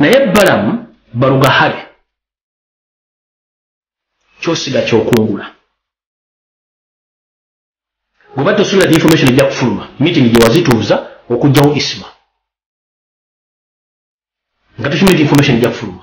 naye balamu balugahale kyosiga kyokungula goba tosuubira ti information ejja kufuluma meeting gyewazituuza okugjawo isma nga tosuubira ti information ejja kufuluma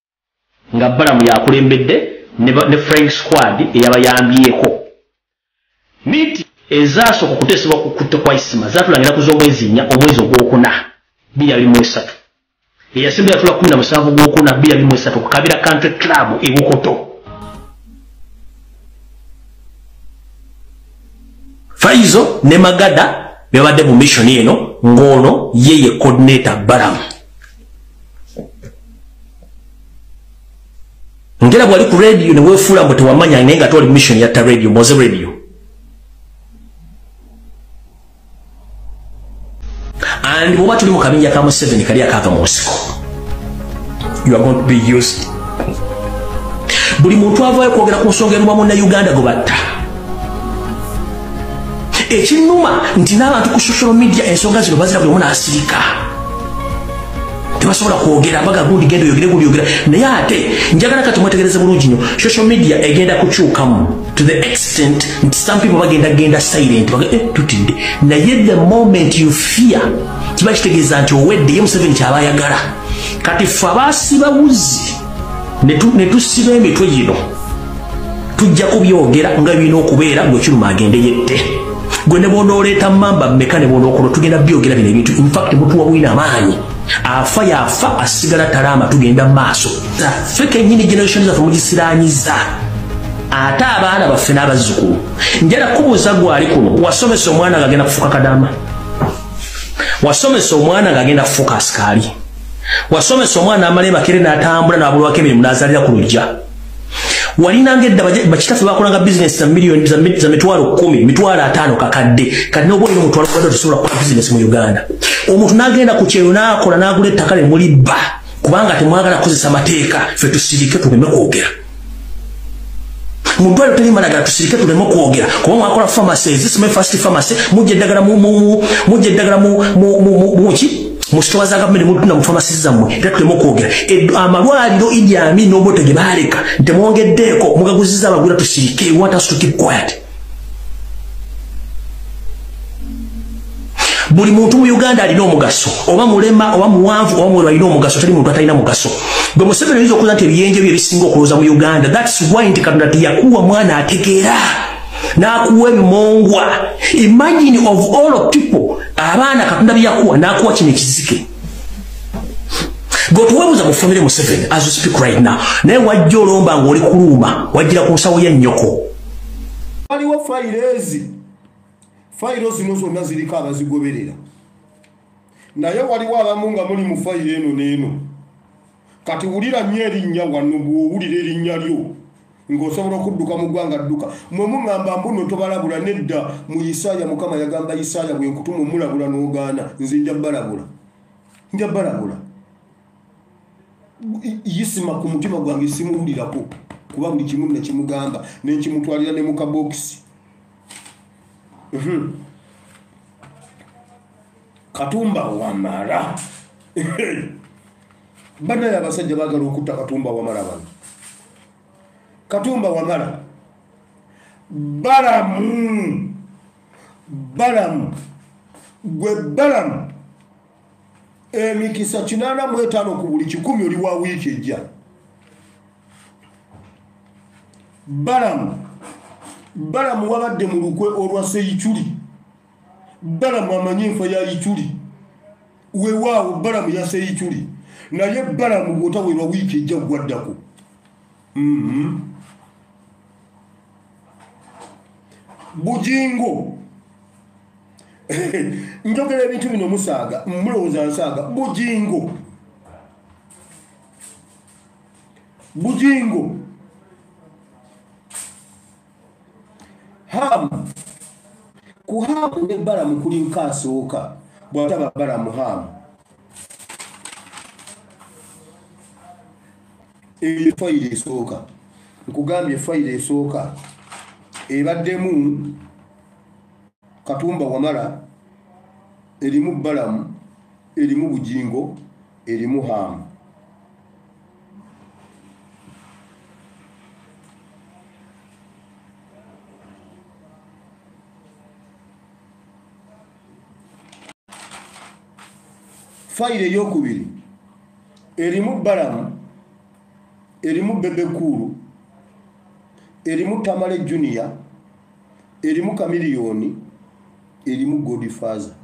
nga Balamu yakulembedde ne Flying Squad eyabayambyeko. Miiti ezaasooka okuteesebwa ku kutta kwa Isma zaatulangira ku z'omwezi nnya omwezi ogwokuna bbiri abiri mu esatu. Eyasemba yatula kkumi na musanvu gwokuna bbiri abiri mu esatu ku Kabira Country Club e Bukoto. Faizo ne Magada bebadde mu mission eno ng'ono ye ye coordinator Balamu. ngera bwali ku radio ne wefuula mbu tewamanya naye nga toli mission ya ta radio moze radio and bwoba tuli mu kabinja ka museveni kali akaava mu nsiko you are going to be used buli muntu avayo kwogera ku nsonga eruba munna uganda gwe batta ekinuma nti n'abantu ku social media ensonga zino bazira buli omu n'asirika tebasobola kwogera baga gundi genda oyogere gundi yogera naye ate njagala kati mwetegereze bulungi nyo social media egenda kukyukamu to the extent nti some people bagenda genda silent baga eh, tutidde naye the moment you fear kiba kitegeeza nti owedde ye museveni kyaba ayagala kati fe abaasiba wuzi ne tusiba emitwe gino tujja kubyogera nga birina okubeera gwekiruma agende yette gwe ne bwonooleeta mamba meka ne bwonookolo tugenda byogera bino ebintu infact mutuwa bwina amaanyi afa yafa asigala talaama tugenda mu maaso ffe kenyini generation zaffe mugisiranyiza ate abaana baffe n'abazzukulu njala kubuuza gwali kuno wasomesa omwana nga agenda kufuuka kadaama wasomesa omwana nga agenda kufuuka asikaali wasomesa omwana amala ebakere natambula nabulwako emirimu nazalira ku lujja walinanga edda bakitaffe bakolanga bizinesi za miliyoni za mitwalo kumi mitwalo ataano kakadde kati noba olina omutwalo kubadde otusobola kukola bizinesi mu uganda omuntu nagenda ku kyeyo nakola nagula ettaka ne mulibba kubanga temwagala kukozesa mateeka fe tusirike tugeme kwogera mu ddwaliro teri malagala tusirike tuleme okwogera kuba mwakola pharmacy ezisome fast pharmacy mujja eddagala mujja eddagala muki mu sitowa za gavumenti mutunda mu pharmacy zammwe era tuleme okwogera amalwaliro idi amin obote ge baaleka ntemwongeddeeko mugaguziza abagwira tusirike want us to keep quiet buli muntu mu uganda alina omugaso oba mulema oba muwanvu oba mwero alina omugaso tali muntu atalina mugaso gwe museveni oyinza okuza nti ebiyenje byo ebisinga okuloza mu uganda thats why nti katonda tiyakuwa mwana ategeera n'akuwa emongwa imagine of all of people abaana katonda byeyakuwa n'akuwa kino ekizike gwetuwebuza mu famire museveni as you speak right now naye wajja olomba ng'oli kuluuma wajjira ku nsawo ya nnyoko waliwo fayiro ezi fayiro zino zonna ziriko abazigoberera naye waliwo abamu nga muli mu fayiro eno n'eno kati wulira nnyo erinnya wano bw'owulira erinnya lyo ng'osobola okudduka mu ggwanga dduka mwe muŋŋamba mbuno tobalabula nedda mu isaaya mukama yagamba isaaya bwe nkutuma omulabula n'ogaana nze nja balabula nja balabula yisima ku mutima gwange simuwulirako kuba buli kimu nekimugamba nenkimutwalira ne mukabokisi mhm. katumba wamala banaye abasajja bagala okutta katumba wamala bano katumba wamala balamu balamu gwe balamu emikisa kinaana mu etaano ku buli kikumi oli wa wiiki ejja balamu balamu wabadde mu lukwe olwa seyiculi balamu amanyi enfa ya yiculi wewaawo balamu ya seyiculi naye balamu bwotawerwa wiiki ejja gwaddako Mm-hmm. bujingo njogera ebintu bino musaaga mulowooza nsaaga bujingo bujingo hamu ku hamu ne balamu kuli nkaasooka bwataba balamu hamu eyo fayiro esooka nkugambye fayiro esooka ebaddemu katumba wamala erimu balamu erimu bujingo erimu haamu fayiro eyokubiri erimu balamu erimu bebekuulu erimu tamale junior erimu kamiliyoni erimu godfather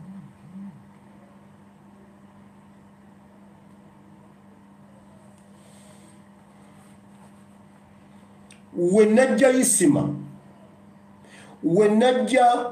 we najja isima we najja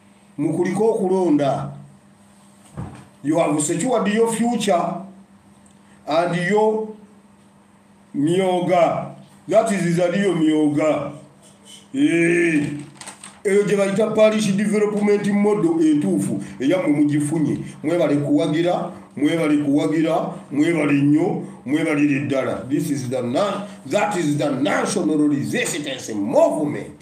mukulike okulonda you have secured your future and your myoga that is zaliyo myoga eh, eyo gye bayita parish development model entuufu eyamwe mugifunye mwebale kuwagira mwebale kuwagira mwebale nnyo mwebalire ddala this is the that is the national resistance movement